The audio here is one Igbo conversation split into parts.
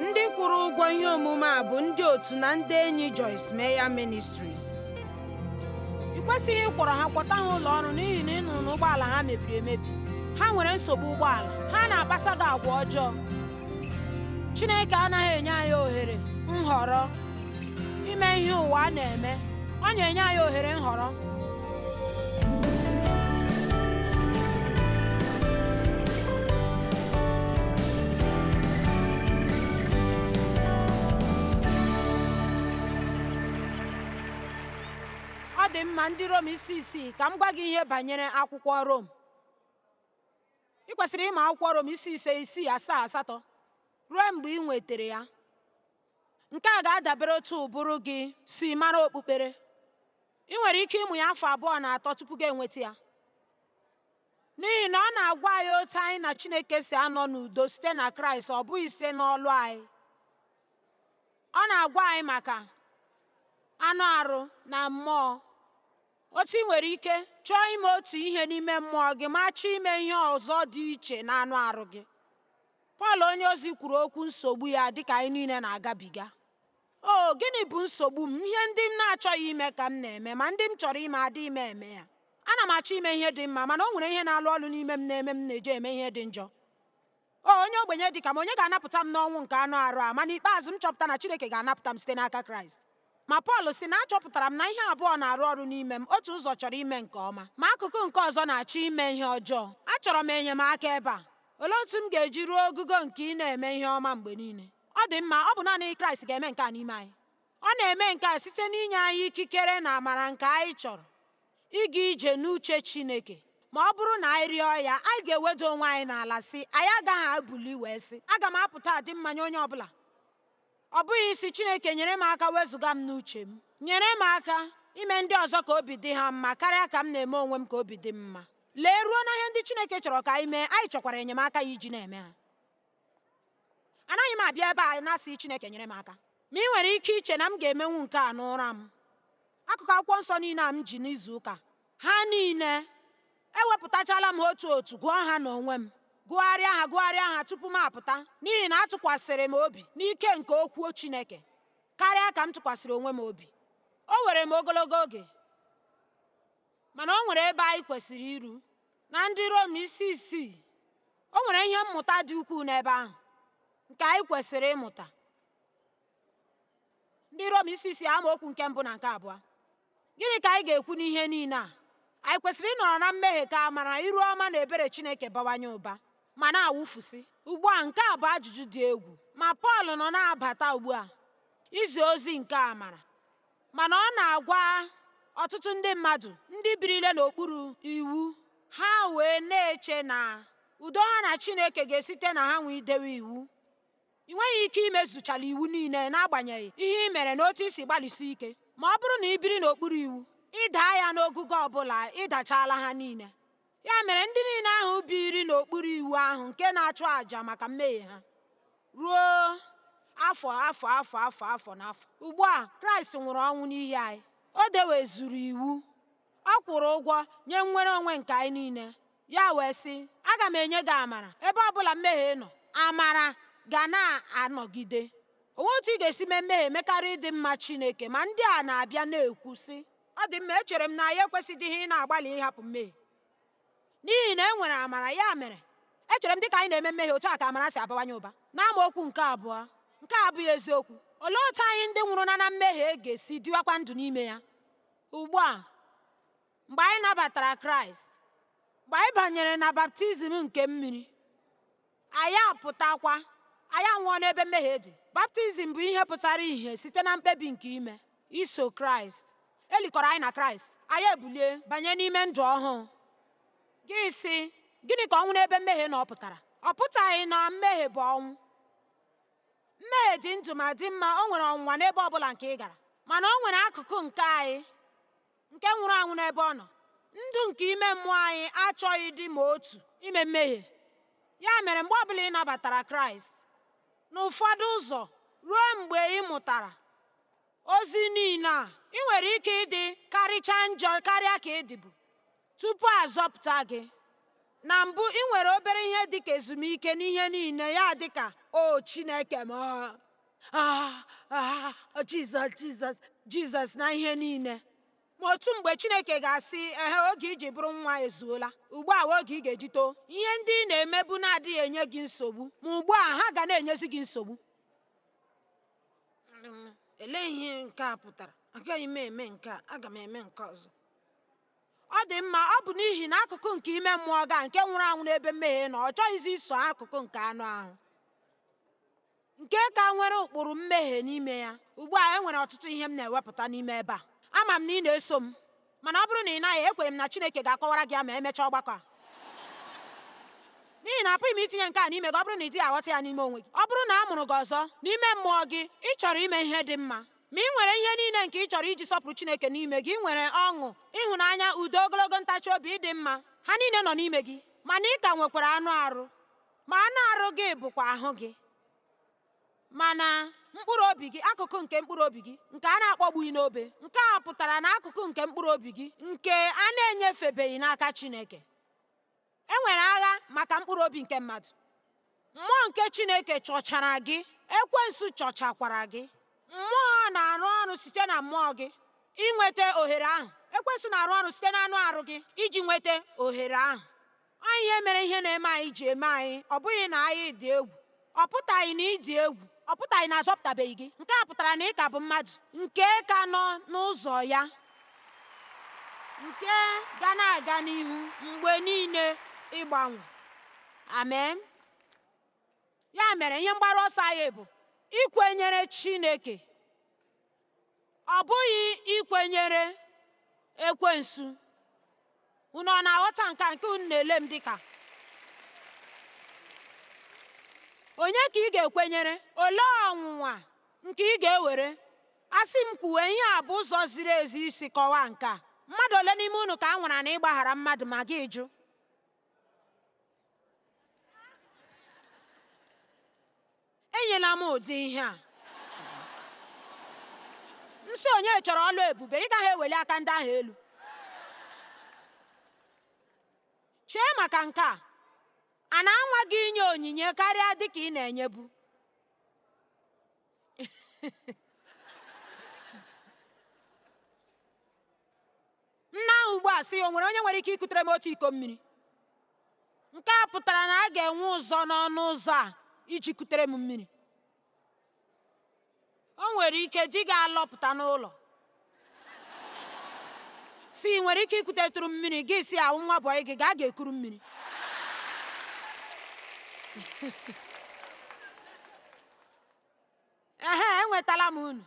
ndị kwụrụ ụgwọ ihe omume a bụ ndị otu na ndị enyi Joyce Meyer Ministries ị kwesịghị ịkwọrọ ha kwọta ha ụlọ ọrụ n'ihi na ị nụrụ na ụgbọala ha mebiri emebi ha nwere nsogbu ụgbọala ha na-akpasa gị agwa ọjọọ Chineke anaghị enye anyị ohere nhọrọ ime ihe ụwa a na-eme ọ na-enye anyị ohere nhọrọ ọ dị mma ndị Rom isi isii ka m gwa gị ihe banyere akwụkwọ Rom ị kwesịrị ịma akwụkwọ Rom isi ise isii asaa asatọ ruo mgbe ị nwetara ya Nke a ga-adabere otu ụbụrụ gị si mara okpukpere. I nwere ike ịmụ ya afọ abụọ na atọ tupu gị enweta ya. N'ihi na ọ na-agwa anyị otu anyị na Chineke si anọ n'udo site na Kraịst, ọ bụghị site n'ọlụ anyị. Ọ na-agwa anyị maka anụ arụ na mmụọ. Otu ị nwere ike chọọ ime otu ihe n'ime mmụọ gị ma chọọ ime ihe ọzọ dị iche na anụ arụ gị. Pọl onyeozi kwuru okwu nsogbu ya dị ka anyị niile na-agabiga. O, gịnị bụ nsogbu m? Ihe ndị m na-achọghị ime ka m na-eme, ma ndị m chọrọ ime adịghị m eme ya. Ana m achọ ime ihe dị mma, mana o nwere ihe na-alụ ọlụ n'ime m na-eme m na-eje eme ihe dị njọ. O, onye ogbenye dị ka m, onye ga-anapụta m n'ọnwụ nke anụ arụ a? Ma n'ikpeazụ, m chọpụta na Chineke ga-anapụta m site n'aka Kraịst. Ma Pọl sị na achọpụtara m na ihe abụọ na-arụ ọrụ n'ime m otu ụzọ chọrọ ime nke ọma ma akụkụ nke ọzọ na-achọ ime ihe ọjọọ achọrọ m enyemaka ebe a olee otu m ga-eji ruo ogugo nke ị na-eme ihe ọma mgbe niile ọ dị mma ọ bụ naanị kraịst ga-eme nke a n'ime anyị ọ na-eme nke a site n'inye anyị ikikere na amara nke anyị chọrọ ịga ije n'uche chineke ma ọ bụrụ na anyị rịọ ya anyị ga-eweda onwe anyị n'ala sị anyị agaghị ebili wee sị aga m apụta adị mma nye onye ọbụla ọ bụghị ịsị Chineke nyere m aka wezụga m n'uche m nyere m aka ime ndị ọzọ ka obi dị ha mma karịa ka m na-eme onwe m ka obi dị m mma lee ruo na ihe ndị Chineke chọrọ ka anyị mee anyị chọkwara enyemaka ya iji na-eme ha anaghị m abịa ebe a na-asị Chineke nyere m aka ma ị nwere ike iche na m ga-emenwu nke a n'ụra m Akụkụ akwụkwọ nsọ niile a m ji n'izu ụka ha niile ewepụtachala m otu otu gụọ ha n'onwe m gụgharịa ha gụgharịa ha tupu m apụta n'ihi na atụkwasịrị m obi n'ike nke okwu Chineke karịa ka m tụkwasịrị onwe m obi o were m ogologo oge mana o nwere ebe anyị kwesịrị iru na ndị Rom isi isii o nwere ihe mmụta dị ukwuu n'ebe ahụ nke anyị kwesịrị ịmụta ndị Rom isi isii amaokwu nke mbụ na nke abụọ gịnị ka anyị ga-ekwu n'ihe niile a anyị kwesịrị ịnọrọ na mmehie ka amara iru ọma na ebere Chineke bawanye ụba ma na-awụfusị ugbu a nke a bụ ajụjụ dị egwu ma Pọl nọ na-abata ugbu a izi ozi nke amara mana ọ na-agwa ọtụtụ ndị mmadụ ndị birile n'okpuru iwu ha wee na-eche na udo ha na Chineke ga-esite na ha nwee idewe iwu I nweghị ike imezuchala iwu niile n'agbanyeghị ihe i mere na otu i si gbalịsi ike. Ma ọ bụrụ na i biri n'okpuru iwu, ị daa ya n'ogogo ọ bụla, ị dachaala ha niile. Ya mere, ndị niile ahụ biiri n'okpuru iwu ahụ nke na-achụ àjà maka mmehie ha ruo afọ afọ afọ afọ afọ na afọ. Ugbu a, Kraịst nwụrụ ọnwụ n'ihi anyị. O dewezuru iwu. Ọ kwụrụ ụgwọ nye nnwere onwe nke anyị niile. Ya wee sị, Aga m enye gị amara ebe ọ bụla mmehie nọ, amara ga na-anọgide. O nweghị otu ị ga-esi mee mmehie mekarịa ịdị mma Chineke. Ma ndị a na-abịa na-ekwu, sị, Ọ dị mma, echere m na anyị ekwesịdịghị ịna-agbalị ịhapụ mmehie n'ihi na e nwere amara, ya mere echere m dị ka anyị na-eme mmehie otu a ka amara si abawanye ụba. N'amaokwu nke abụọ, nke a abụghị eziokwu. Olee otu anyị ndị nwụrụ na na mmehie ga-esi dịwakwa ndụ n'ime ya ugbu a? mgbe anyị nabatara Kraịst, mgbe anyị banyere na baptizim nke mmiri, anyị apụtakwa, anyị anwụọ n'ebe mmehie dị. Baptizim bụ ihe pụtara ìhè site na mkpebi nke ime iso Kraịst. E likọrọ anyị na Kraịst, anyị ebulie banye n'ime ndụ ọhụụ. Gị sị, gịnị ka ọnwụ n'ebe mmehie nọ pụtara? Ọ pụtaghị na mmehie bụ ọnwụ. Mmehie dị ndụ ma dị mma, o nwere ọnwụnwa n'ebe ọ bụla nke ị gara, mana o nwere akụkụ nke anyị nke nwụrụ anwụ n'ebe ọ nọ ndụ nke ime mmụọ anyị achọghịdị ma otu ime mmehie ya mere mgbe ọbụla ị nabatara kraịst n'ụfọdụ ụzọ ruo mgbe ị mụtara ozi niile a ị nwere ike ịdị karịcha njọ karịa ka ị dịbu tupu a zọpụta gị na mbụ ị nwere obere ihe dịka ezumike n'ihe niile ya dịka o chineke m Ah, ah, Jizọs, Jizọs, Jizọs na ihe niile. Ma otu mgbe Chineke ga-asị, ehe, oge i ji bụrụ nwa ezuola. Ugbu a oge ị ga-eji too. Ihe ndị ị na-emebu na-adịghị enye gị nsogbu, ma ugbu a ha ga na-enyezi gị nsogbu. Elee ihe nke a pụtara? Agaghị m eme nke a, aga m eme nke ọzọ. Ọ dị mma, ọ bụ n'ihi na akụkụ nke ime mmụọ gị nke nwụrụ anwụ n'ebe mmehie nọ, ọ chọghịzi iso akụkụ nke anụ ahụ. nke ka nwere ụkpụrụ mmehie n'ime ya ugbu a enwere ọtụtụ ihe m na-ewepụta n'ime ebe a ama m na ị na-eso m mana ọ bụrụ na ị naghị ekwere m na Chineke ga-akọwara gị ya ma emechaa ọgbakọ a n'ihi na apụghị m itinye nke a n'ime gị ọ bụrụ na ị dịghị aghọta ya n'ime onwe gị ọ bụrụ na a mụrụ gị ọzọ n'ime mmụọ gị ị chọrọ ime ihe dị mma ma ị nwere ihe niile nke ị chọrọ iji sọpụrụ Chineke n'ime gị ị nwere ọṅụ ịhụnanya udo ogologo ntachi obi ịdị mma ha niile nọ n'ime gị mana ị ka nwekwara anụ arụ Ma anụ arụ gị bụkwa ahụ gị. Mana mkpụrụ obi gị, akụkụ nke mkpụrụ obi gị nke a na-akpọgbughị n'obe, nke a pụtara na akụkụ nke mkpụrụ obi gị nke a na-enyefebeghị n'aka Chineke. E nwere agha maka mkpụrụ obi nke mmadụ. Mmụọ nke Chineke chọchara gị, ekwensu chọchakwara gị. Mmụọ na-arụ ọrụ site na mmụọ gị inweta ohere ahụ. Ekwensu na-arụ ọrụ site n'anụ arụ gị iji nweta ohere ahụ. Ọ ihe mere ihe na-eme anyị ji eme anyị, ọ bụghị na anyị dị egwu. Ọ pụtaghị na ị dị egwu, ọ pụtaghị na azọpụtabeghị gị. Nke a pụtara na ị ka bụ mmadụ nke ka nọ n'ụzọ ya, nke ga na-aga n'ihu mgbe niile ịgbanwe. Amen. Ya mere ihe mgbaru ọsọ anyị bụ ikwenyere Chineke Ọ bụghị ikwenyere ekwensu. Unu ọ na-aghọta nke a nke unu na-ele m dịka? Onye ka ị ga-ekwenyere? Olee ọnwụnwa nke ị ga-ewere? Asị m kwuwe ihe a bụ ụzọ ziri ezi isi kọwaa nke a. Mmadụ ole n'ime unu ka a nwara na ịgbaghara mmadụ ma gị jụ? Enyela m ụdị ihe a. M sị onye chọrọ ọlụ ebube, ị gaghị eweli aka ndị ahụ elu. Chee maka nke a. A na-anwa gị inye onyinye karịa dị ka ị na-enyebu. Nna ahụ ugbu a sị, O nwere onye nwere ike ikutere m otu iko mmiri? Nke a pụtara na a ga-enwe ụzọ n'ọnụ ụzọ a iji kutere m mmiri. O nwere ike di gị alọpụta n'ụlọ sị ị nwere ike ikutetụrụ m mmiri gị sị awụ m nwa bọyị gị gaa ga-ekuru mmiri ehe enwetala m unu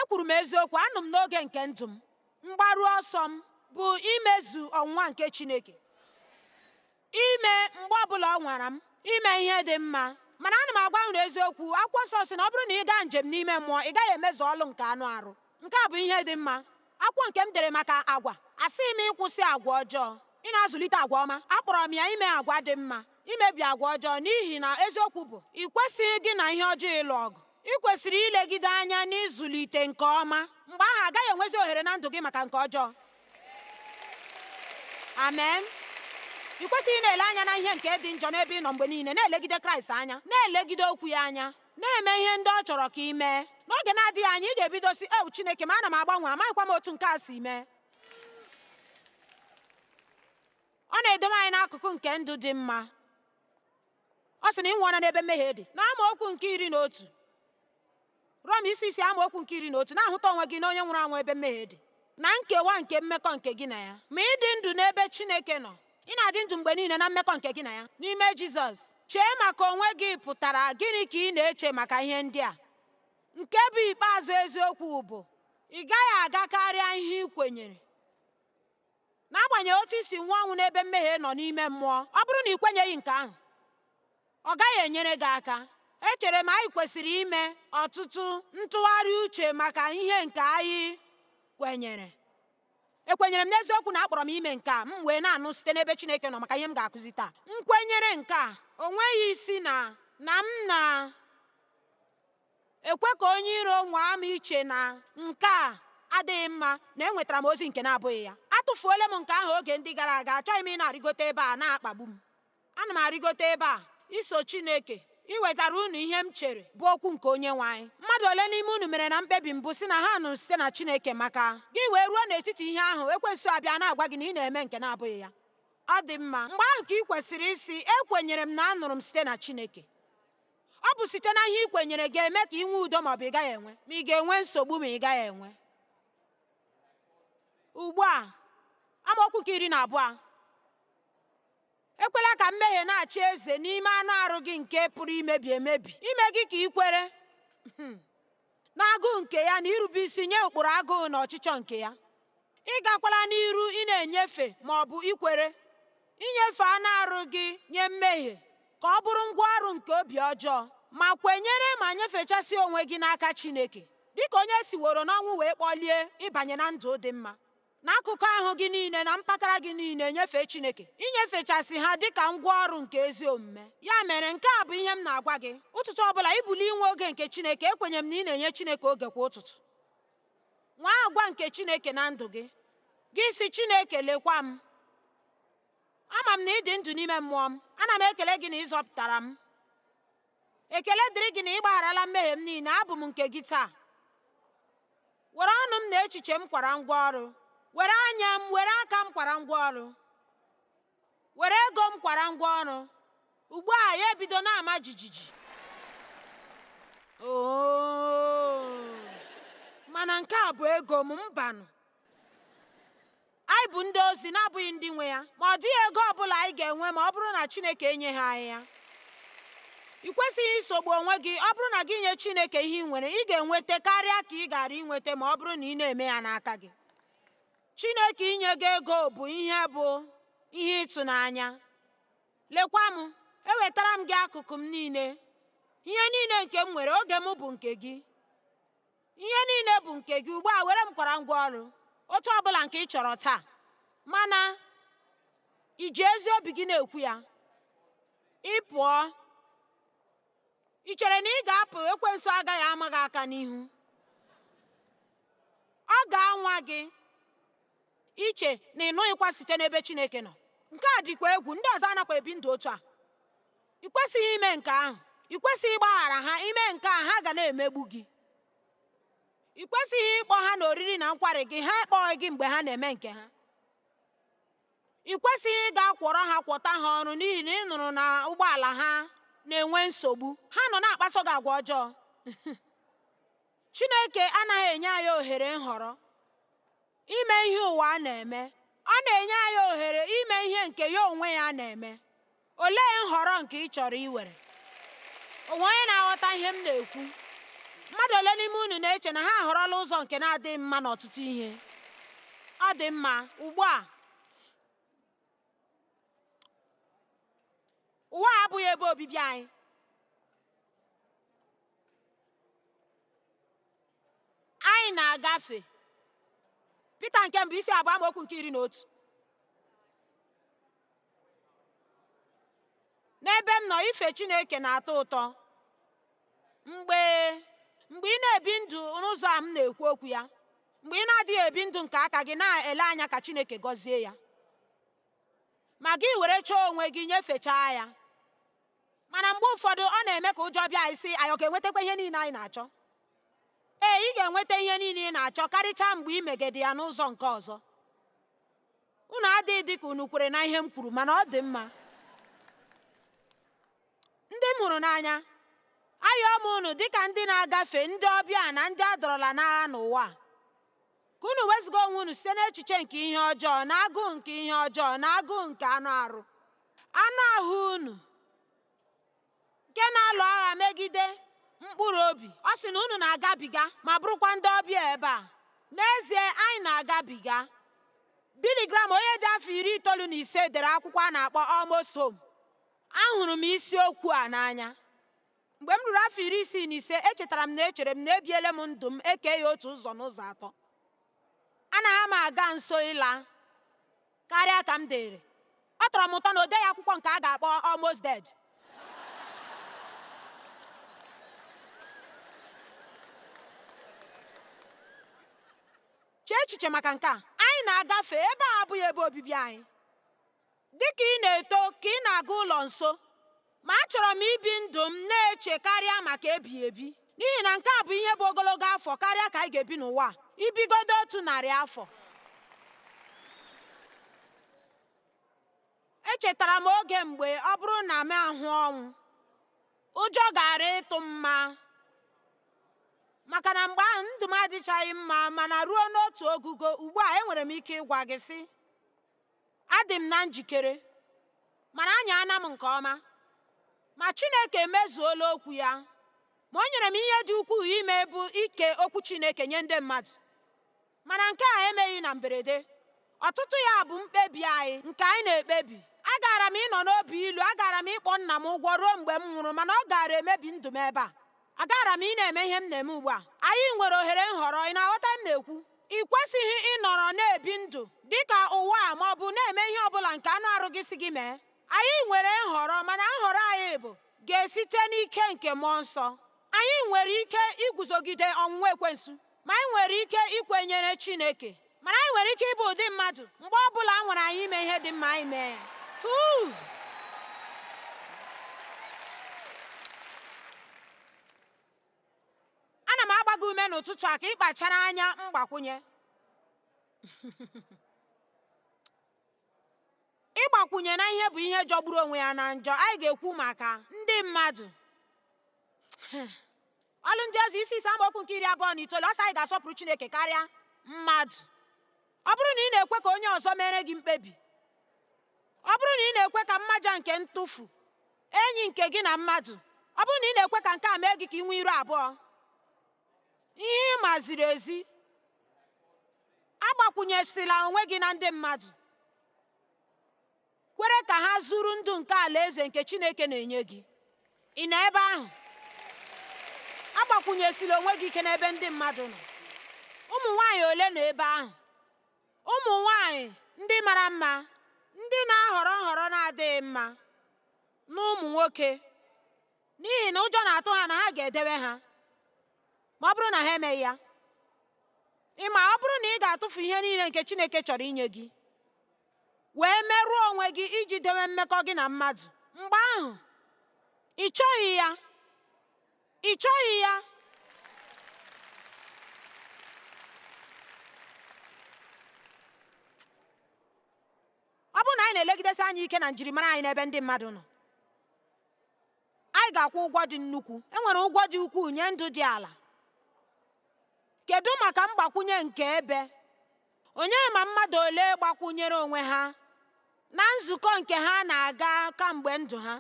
ekwuru m eziokwu anọ m n'oge nke ndụ m mgbaru ọsọ m bụ imezu ọnwụnwa nke chineke ime mgbe ọbụla ọ nwara m ime ihe dị mma mana ana m agwa unu eziokwu akwụkwọ nsọ sị na ọ bụrụ na ị gaa njem n'ime mmụọ ị gaghị emezu ọlụ nke anụ arụ Nke a bụ ihe dị mma. Akwụkwọ nke m dere maka agwa. Asịghị m ịkwụsị agwa ọjọọ, ị na-azụlite agwa ọma. Akpọrọ m ya ime agwa dị mma, imebi agwa ọjọọ, n'ihi na eziokwu bụ, ị kwesịghị gị na ihe ọjọọ ịlụ ọgụ. Ị kwesịrị ilegide anya n'ịzụlite nke ọma. Mgbe ahụ, a gaghị enwezi ohere na ndụ gị maka nke ọjọọ. Amen. Ị kwesịghị na-ele anya na ihe nke dị njọ n'ebe ị nọ mgbe niile, na-elegide Kraịst anya, na-elegide okwu ya anya. Na-eme ihe ndị ọ chọrọ ka ị mee. N'oge na-adịghị anya, ị ga-ebido sị, Ew, Chineke m, ana m agbanwe, amaghịkwa m otu nke a si mee. Ọ na-edowe anyị n'akụkụ nke ndụ dị mma. Ọ sị na ị nwụọla n'ebe mmehie dị. Na amaokwu nke iri na otu, Rom isi isi amaokwu nke iri na otu, na-ahụta onwe gị na onye nwụrụ anwụ ebe mmehie dị. na nkewa nke mmekọ nke gị na ya. Ma ị dị ndụ n'ebe Chineke nọ, ị na-adị ndụ mgbe niile na mmekọ nke gị na ya n'ime Jizọs. Chee maka onwe gị pụtara gịnị ka ị na-eche maka ihe ndị a? Nke bụ ikpeazụ eziokwu bụ ị gaghị aga karịa ihe ị kwenyere. N'agbanyeghị otu i si nwụọ ọnwụ n'ebe mmehie nọ n'ime mmụọ, ọ bụrụ na ị kwenyeghị nke ahụ, ọ gaghị enyere gị aka echere m anyị kwesịrị ime ọtụtụ ntụgharị uche maka ihe nke anyị kwenyere ekwenyere m n'eziokwu na a kpọrọ m ime nke a m wee na-anụ site n'ebe Chineke nọ maka ihe m ga-akụzi taa m kwenyere nke a o nweghị isi na na m na-ekwe ka onye iro nwaa m iche na nke a adịghị mma na enwetara m ozi nke na-abụghị ya atụfuola m nke ahụ oge ndị gara aga achọghị m ịna-arịgote ebe a na-akpagbu m Ana m arịgote ebe a iso Chineke iwetara unu ihe m chere bụ okwu nke onye nwe anyị. Mmadụ ole n'ime unu mere na mkpebi mbụ sị na ha nụrụ site na Chineke maka gị wee ruo n'etiti ihe ahụ ekwensu abịa na-agwa gị na ị na-eme nke na-abụghị ya? Ọ dị mma, mgbe ahụ ka ị kwesịrị ịsị, Ekwenyere m na anụrụ m site na Chineke. Ọ bụ site na ihe ị kwenyere ga-eme ka ị nwee udo ma ọ bụ ị gaghị enwe, ma ị ga-enwe nsogbu ma ị gaghị enwe. Ugbu a, amaokwu nke iri na abụọ Ekwela ka mmehie na-achị eze n'ime anụ arụ gị nke pụrụ imebi emebi, ime gị ka ị kwere n'agụụ nke ya na irube isi nye ụkpụrụ agụụ na ọchịchọ nke ya. Ị gakwala n'iru ị na-enyefe ma ọ bụ ikwere inyefe anụ arụ gị nye mmehie ka ọ bụrụ ngwa ọrụ nke obi ọjọọ ma kwenyere ma nyefechasị onwe gị n'aka Chineke dịka onye siworo n'ọnwụ wee kpọlie ịbanye na ndụ dị mma n'akụkụ ahụ gị niile na mpakara gị niile nyefee Chineke inyefechasị ha dị ka ngwa ọrụ nke ezi omume ya mere nke a bụ ihe m na-agwa gị ụtụtụ ọ bụla ibuli inwe oge nke Chineke ekwenye m na ị na-enye Chineke oge kwa ụtụtụ nwee agwa nke Chineke na ndụ gị gị sị Chineke lekwa m ama m na ị dị ndụ n'ime mmụọ m ana m ekele gị na ị zọpụtara m Ekele dịrị gị na ị gbagharala mmehie m niile, abụ m nke gị taa. Were ọnụ m na echiche m kwara ngwa ọrụ, were anya m, were aka m kwara ngwa ọrụ, were ego m kwara ngwa ọrụ. Ugbu a ya ebido na-ama jijiji. Oo, mana nke a bụ ego m mbanụ. Anyị bụ ndị ozi na-abụghị ndị nwe ya, ma ọ dịghị ego ọ bụla anyị ga-enwe ma ọ bụrụ na Chineke enyeghị anyị ya. Ị kwesịghị isogbu onwe gị, ọ bụrụ na gị nye Chineke ihe ị nwere, ị ga-enweta karịa ka ị gara inweta ma ọ bụrụ na ị na-eme ya n'aka gị. Chineke inye gị ego bụ ihe bụ ihe ịtụnanya. Lekwa m, ewetara m gị akụkụ m niile, ihe niile nke m nwere, oge m bụ nke gị. Ihe niile bụ nke gị, ugbu a were m kwara ngwa ọrụ otu ọ bụla nke ị chọrọ taa. Mana i ji ezi obi gị na-ekwu ya. Ị pụọ, i chere na ị ga-apụ ekwensu agaghị ama gị aka n'ihu. Ọ ga-anwa gị iche na ị nụghịkwa site n'ebe Chineke nọ. Nke a dịkwa egwu, ndị ọzọ anakwa ebi ndụ otu a. I kwesịghị ime nke ahụ. I kwesịghị ịgbaghara ha. Ime nke a, ha ga na-emegbu gị. I kwesịghị ịkpọ ha n'oriri na nkwari gị, ha akpọghị gị mgbe ha na-eme nke ha. I kwesịghị ịga kwọrọ ha kwọta ha ọrụ n'ihi na ị nụrụ na ụgbọala ha na-enwe nsogbu. Ha nọ na-akpaso gị agwa ọjọọ. Chineke anaghị enye anyị ohere nhọrọ ime ihe ụwa na-eme. Ọ na-enye anyị ohere ime ihe nke ya onwe ya na-eme. olee nhọrọ nke ị chọrọ iwere o nwe onye na-aghọta ihe m na-ekwu mmadụ ole n'ime unu na-eche na ha ahọrọla ụzọ nke na-adịghị mma n'ọtụtụ ihe ọ dị mma ugbu a ụwa abụghị ebe obibi anyị anyị na-agafe Pita nke mbụ isi abụọ amaokwu nke iri na otu n'ebe m nọ ife chineke na-atọ ụtọ mgbe ị na-ebi ndụ n'ụzọ a m na-ekwu okwu ya mgbe ị na-adịghị ebi ndụ nke aka gị na-ele anya ka chineke gọzie ya ma gị werechaa onwe gị nyefechaa ya mana mgbe ụfọdụ ọ na-eme ka ụjọ bịa anyị sị anyị ọ ga-enwetakwa ihe niile anyị na-achọ ee ị ga-enweta ihe niile ị na-achọ karịchaa mgbe ị megide ya n'ụzọ nke ọzọ Unu adịghị dị ka unu kwere na ihe m kwuru, mana ọ dị mma. Ndị m hụrụ n'anya, ayọọ m unu dị ka ndị na-agafe ndị ọbịa na ndị a dọrọla n'agha n'ụwa a. Ka unu wezụga onwe unu site n'echiche nke ihe ọjọọ na agụụ nke ihe ọjọọ na agụụ nke anụ arụ. Anụ ahụ unu nke na-alụ agha megide mkpụrụ obi. Ọ sị na unu na-agabiga ma bụrụkwa ndị ọbịa ebe a. N'ezie, anyị na-agabiga. Billy Graham, onye dị afọ iri itoolu na ise, dere akwụkwọ a na-akpọ Almost Home. Ahụrụ m isiokwu a n'anya. Mgbe m ruru afọ iri isii na ise, echetara m na echere m na ebiele m ndụ m e kee ya otu ụzọ n'ụzọ atọ. Anaghị m aga nso ịla. karịa ka m dịrị. Ọ tọrọ m ụtọ na o deghị akwụkwọ nke a ga-akpọ Almost Dead. Chee echiche maka nke a. Anyị na-agafe. Ebe a abụghị ebe obibi anyị. Dị ka ị na-eto, ka ị na-aga ụlọ nso, Ma achọrọ m ibi ndụ m na-eche karịa maka ebighị ebi, n'ihi na nke a bụ ihe bụ ogologo afọ karịa ka anyị ga-ebi n'ụwa i bigodo otu narị afọ. Echetara m oge mgbe ọ bụrụ na m ahụ ọnwụ, ụjọ gaara ịtụ m ma maka na mgbe ahụ ndụ m adịchaghị mma mana ruo n'otu ogugo ugbu a enwere m ike ịgwa gị sị Adị m na njikere, mana anya ana m nke ọma. Ma Chineke emezuola okwu ya. Ma o nyere m ihe dị ukwuu ime bụ ike okwu Chineke nye ndị mmadụ. Mana nke a emeghị na mberede. Ọtụtụ ya bụ mkpebi anyị, nke anyị na-ekpebi. Agaara m ịnọ n'obi ilu, agaara m ịkpọ nna m ụgwọ ruo mgbe m nwụrụ, mana ọ gaara emebi ndụ m ebe a. Agaghara m ịna-eme ihe m na-eme ugbu a. Anyị nwere ohere nhọrọ, ị na-aghọta ihe m na-ekwu? Ị kwesịghị ịnọrọ na-ebi ndụ dị ka ụwa a ma ọ bụ na-eme ihe ọ bụla nke anụ arụ gị sị gị mee. Anyị nwere nhọrọ, mana nhọrọ anyị bụ ga-esite n'ike nke mmụọ nsọ. Anyị nwere ike iguzogide ọnwụnwa ekwensu. Ma anyị nwere ike ikwenyere Chineke, mana anyị nwere ike ịbụ ụdị mmadụ mgbe ọ bụla a nwara anyị ime ihe dị mma anyị mee ya. Ana m agba gị ume n'ụtụtụ a ka ị kpachara anya mgbakwunye. ịgbakwunye na ihe bụ ihe jọgburu onwe ya na njọ anyị ga-ekwu maka ndị mmadụ Ọlụ Ndị Ozi isi ise amaokwu nke iri abụọ na itoolu ọ sị anyị ga-asọpụrụ Chineke karịa mmadụ ọ bụrụ na ị na-ekwe ka onye ọzọ meere gị mkpebi ọ bụrụ na ị na-ekwe ka mmaja nke ntufu enyi nke gị na mmadụ ọ bụrụ na ị na-ekwe ka nke a mee gị ka ị nwee iru abụọ ihe ị ma ziri ezi agbakwunyesila onwe gị na ndị mmadụ kwere ka ha zuru ndụ nke alaeze nke Chineke na-enye gị ị nọ ebe ahụ agbakwunyesila onwe gị ike n'ebe ndị mmadụ nọ ụmụ nwanyị ole nọ ebe ahụ ụmụ nwanyị ndị mara mma ndị na-ahọrọ nhọrọ na-adịghị mma na ụmụ nwoke n'ihi na ụjọ na-atụ ha na ha ga-edewe ha ma ọ bụrụ na ha emeghị ya ị ma ọ bụrụ na ị ga-atụfu ihe niile nke Chineke chọrọ inye gị wee merụọ onwe gị iji dewe mmekọ gị na mmadụ mgbe ahụ ị chọghị ya ị chọghị ya ọ bụrụ na anyị na-elegidesi anya ike na njirimara anyị n'ebe ndị mmadụ nọ anyị ga-akwụ ụgwọ dị nnukwu e nwere ụgwọ dị ukwuu nye ndụ dị ala kedu maka mgbakwunye nke ebe onye ma mmadụ ole gbakwunyere onwe ha na nzukọ nke ha na-aga kamgbe ndụ ha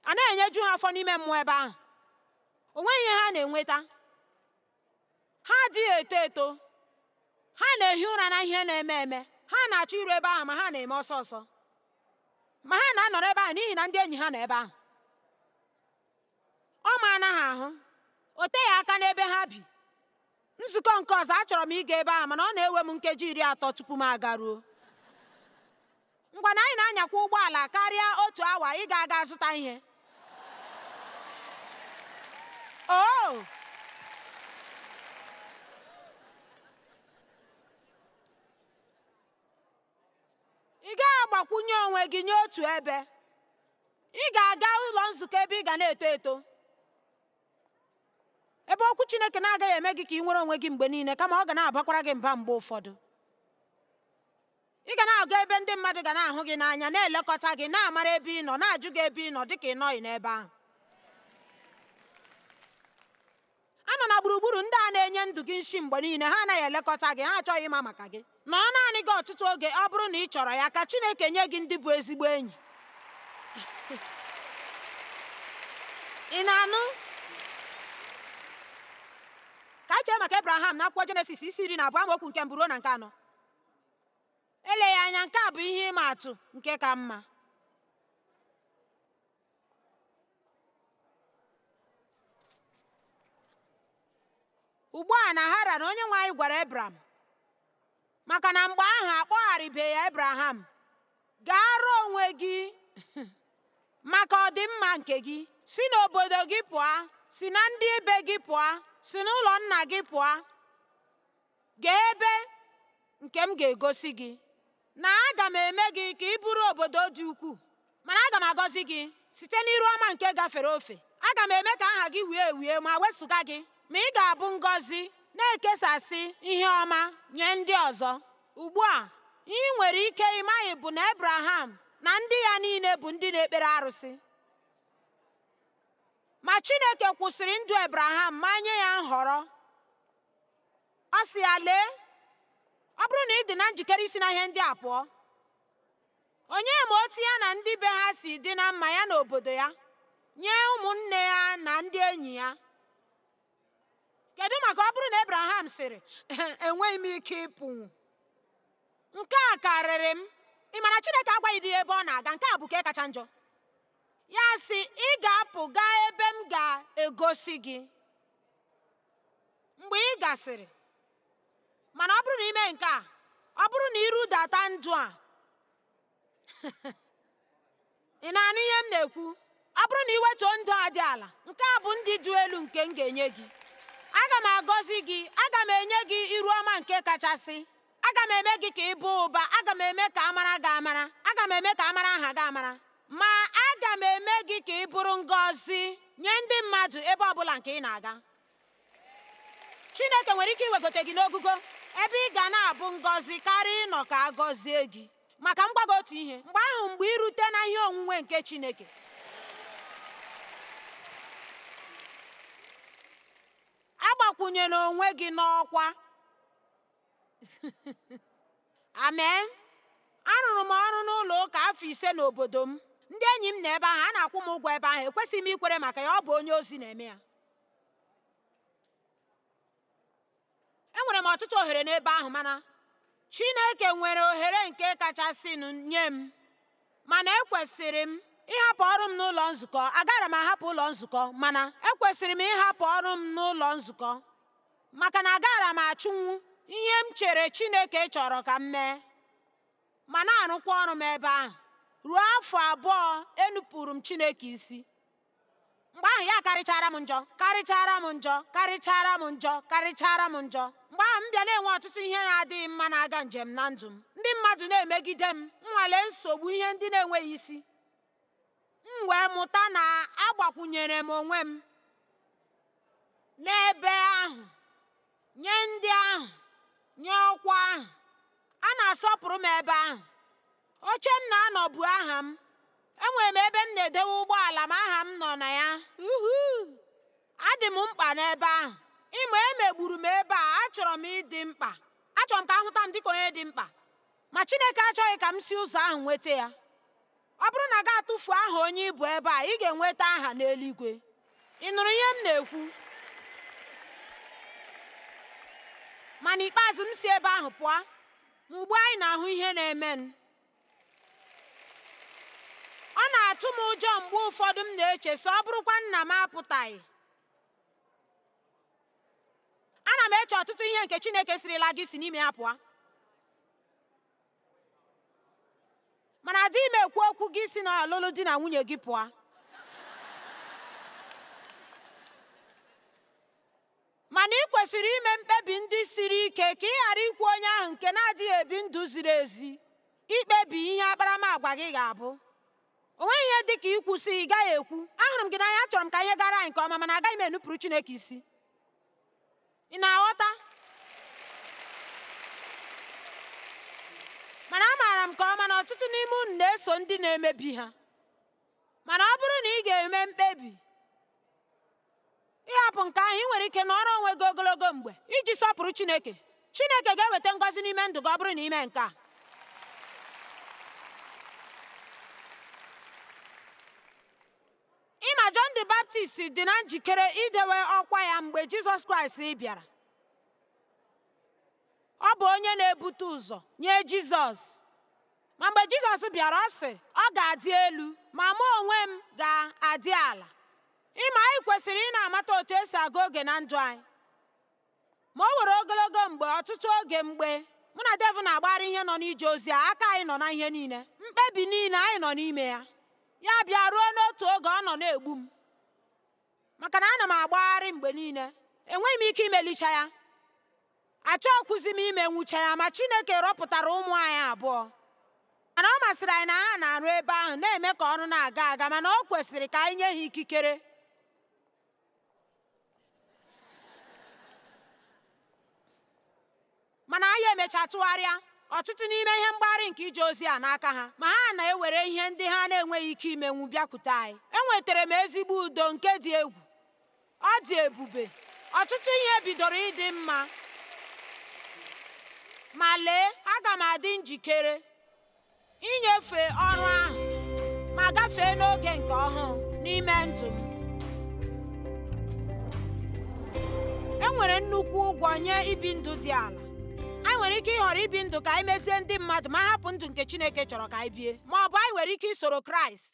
a na-enyeju ha afọ n'ime mmụọ ebe ahụ o nweghị ihe ha na-enweta ha adịghị eto eto ha na-ehi ụra na ihe na-eme eme ha na-achọ iru ebe ahụ ma ha na-eme ọsọ ọsọ ma ha na-anọrọ ebe ahụ n'ihi na ndị enyi ha nọ ebe ahụ ọ maara ha ahụ o teghị aka n'ebe ha bi nzukọ nke ọzọ achọrọ m ịga ebe ahụ mana ọ na-ewe m nkeji iri atọ tupu m agaruo Ngwanụ anyị na-anyakwa ụgbọala karịa otu awa ịga aga zụta ihe. Oh! Ị gaghị agbakwunye onwe gị nye otu ebe. Ị ga-aga ụlọ nzukọ ebe ị ga na-eto eto. Ebe okwu Chineke na-agaghị eme gị ka ị nwere onwe gị mgbe niile kama ọ ga na-abakwara gị mba mgbe ụfọdụ. ị ga na-aga ebe ndị mmadụ ga na-ahụ gị n'anya na-elekọta gị na-amara ebe ị nọ na-ajụ gị ebe ị nọ dịka ị nọghị n'ebe ahụ anọna gburugburu ndị a na-enye ndụ gị nshi mgbe niile ha anaghị elekọta gị ha achọghị ịma maka gị nọọ naanị gị ọtụtụ oge ọ bụrụ na ị chọrọ ya ka Chineke nye gị ndị bụ ezigbo enyi ị na-anụ ka anyị chee maka Abraham na akwụkwọ Jenesis isi iri na abụọ amaokwu nke mbụ ruo na nke anọ eleghị anya nke a bụ ihe ịma atụ nke ka mma ugbu a na Haran onye nwe anyị gwara ebram maka na mgbe ahụ akpọgharịbeghị ya ebraham gaara onwe gị maka ọdịmma nke gị si n'obodo gị pụọ si na ndị ibe gị pụọ si n'ụlọ nna gị pụọ Gaa ebe nke m ga-egosi gị, na aga m eme gị ka ị bụrụ obodo dị ukwuu, mana aga m agọzi gị site n'iru ọma nke gafere ofe. Aga m eme ka aha gị wie ewie ma wezuga gị, ma ị ga-abụ ngọzi, na-ekesasị ihe ọma nye ndị ọzọ. Ugbu a, ihe i nwere ike ị maghị bụ na Ebraham na ndị ya niile bụ ndị na-ekpere arụsị. Ma Chineke kwụsịrị ndụ Ebraham ma nye ya nhọrọ. ọ sị ya lee ọ bụrụ na ị dị na njikere isi na ihe ndị a pụọ onye ma otu ya na ndị be ha si dị na mma ya na obodo ya nye ụmụnne ya na ndị enyi ya kedu maka ọ bụrụ na Abraham sịrị enweghị m ike ịpụ nke a karịrị m ị ma na Chineke agwaghịdị ebe ọ na-aga nke a bụ ka kacha njọ ya sị ị ga-apụ gaa ebe m ga-egosi gị mgbe ị gasịrị mana ọ bụrụ na i mee nke a ọ bụrụ na i rudata ndụ a ị na-anụ ihe m na-ekwu ọ bụrụ na i wetuo ndụ a dị ala nke a bụ ndụ dị elu nke m ga-enye gị aga m agọzi gị aga m enye gị iru ọma nke kachasị aga m eme gị ka ị baa ụba aga m eme ka a mara gị amara aga m eme ka a mara aha gị amara ma aga m eme gị ka ị bụrụ ngọzi nye ndị mmadụ ebe ọ bụla nke ị na-aga chineke nwere ike iwegote gị n'ogogo ebe ị ga na-abụ ngọzi karịa ịnọ ka a gọzie gị ma ka m gwa gị otu ihe mgbe ahụ mgbe i rute na ihe onwunwe nke chineke agbakwunyela onwe gị n'ọkwa Amen. Arụrụ m ọrụ n'ụlọ ụka afọ ise n'obodo m. Ndị enyi m nọ ebe ahụ, a na-akwụ m ụgwọ ebe ahụ, ekwesịghị m ikwere maka ya, ọ bụ onye ozi na-eme ya. Enwere m ọtụtụ ohere n'ebe ahụ, mana Chineke nwere ohere nke kachasịnụ nye m. Mana ekwesịrị m ịhapụ ọrụ m n'ụlọ nzukọ. Agaara m ahapụ ụlọ nzukọ, mana ekwesịrị m ịhapụ ọrụ m n'ụlọ nzukọ. maka na agaara m achụnwu ihe m chere Chineke chọrọ ka m mee ma na-arụkwa ọrụ m ebe ahụ ruo afọ abụọ enupụrụ m Chineke isi mgbe ahụ ya karịchara m njọ karịchara m njọ karịchara m njọ karịchara m njọ mgbe ahụ m bịa na-enwe ọtụtụ ihe na-adịghị mma na-aga njem na ndụ m ndị mmadụ na-emegide m nnwale nsogbu ihe ndị na-enweghị isi m wee mụta na agbakwunyere m onwe m n'ebe ahụ nye ndị ahụ nye ọkwa ahụ a na-asọpụrụ m ebe ahụ oche m na-anọ bu aha m enwere m ebe m na-edewe ụgbọala m aha m nọ na ya adị m mkpa n'ebe ahụ ịma emegburu m ebe a achọrọ m ịdị mkpa achọrọ m ka ahụta m dịka onye dị mkpa Ma Chineke achọghị ka m si ụzọ ahụ nweta ya. Ọ bụrụ na gị atụfu aha onye ịbụ ebe a, ị ga-enweta aha n'eluigwe. Ị nụrụ ihe m na-ekwu? Ma n'ikpeazụ m si ebe ahụ pụọ, ma ugbu a anyị na-ahụ ihe na-eme m. Ọ na-atụ m ụjọ mgbe ụfọdụ m na-eche sị ọ bụrụkwa na m apụtaghị. ana m eche ọtụtụ ihe nke chineke sịrịla gị si n'ime ya pụọ mana adịghị m ekwu okwu gị si na ọlụlụ di na nwunye gị pụọ mana ị kwesịrị ime mkpebi ndị siri ike ka ị ghara ikwe onye ahụ nke na-adịghị ebi ndụ ziri ezi ikpebi ihe akparamagwa gị ga-abụ O nweghị ihe dị ka ikwu sị, ị gaghị ekwu, ahụrụ m gị n'anya, achọrọ m ka ihe gara anyị nke ọma, mana agaghị m enupụrụ Chineke isi. Ị na-aghọta? Mana amaara m nke ọma na ọtụtụ n'ime unu na-eso ndị na-emebi ha. Mana ọ bụrụ na ị ga-eme mkpebi ịhapụ nke ahụ ị nwere ike nọrọ onwe gị ogologo mgbe iji sọpụrụ Chineke Chineke ga-eweta ngọzi n'ime ndụ gị ọ bụrụ na ime nke a ịma John the Baptist dị na njikere idewe ọkwa ya mgbe Jizọs Kraịst bịara Ọ bụ onye na-ebute ụzọ nye Jizọs. Ma mgbe Jizọs bịara, ọ sị, Ọ ga-adị elu, ma mụ onwe m ga-adị ala. Ịma anyị kwesịrị ị na-amata otu esi agụ oge na ndụ anyị. Ma o were ogologo mgbe, ọtụtụ oge mgbe mụ na Dave na-agbagharị ihe nọ n'ije ozi a, aka anyị nọ na ihe niile, mkpebi niile anyị nọ n'ime ya. Ya bịa ruo n'otu oge ọ nọ na-egbu m. maka na ana m agbagharị mgbe niile enweghị m ike imelicha ya achọghịkwuzi m imenwucha ya ma Chineke rọpụtara ụmụ anyị abụọ mana ọ masịrị anyị na ha na-arụ ebe ahụ na-eme ka ọrụ na-aga aga mana ọ kwesịrị ka anyị nye ha ikikere mana anyị emechaa tụgharịa ọtụtụ n'ime ihe mgbagharị nke ije ozi a n'aka ha ma ha na-ewere ihe ndị ha na-enweghị ike imenwu bịakwute anyị enwetara m ezigbo udo nke dị egwu ọ dị ebube ọtụtụ ihe bidoro ịdị mma ma lee aga m adị njikere inyefe ọrụ ahụ ma gafee n'oge nke ọhụụ n'ime ndụ m e nwere nnukwu ụgwọ nye ibi ndụ dị ala anyị nwere ike ịhọrọ ibi ndụ ka anyị mezie ndị mmadụ ma hapụ ndụ nke Chineke chọrọ ka anyị bie ma ọ bụ anyị nwere ike isoro Kraịst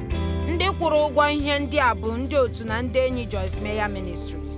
ndị kwụrụ ụgwọ ihe ndị a bụ ndị otu na ndị enyi Joyce Meyer Ministries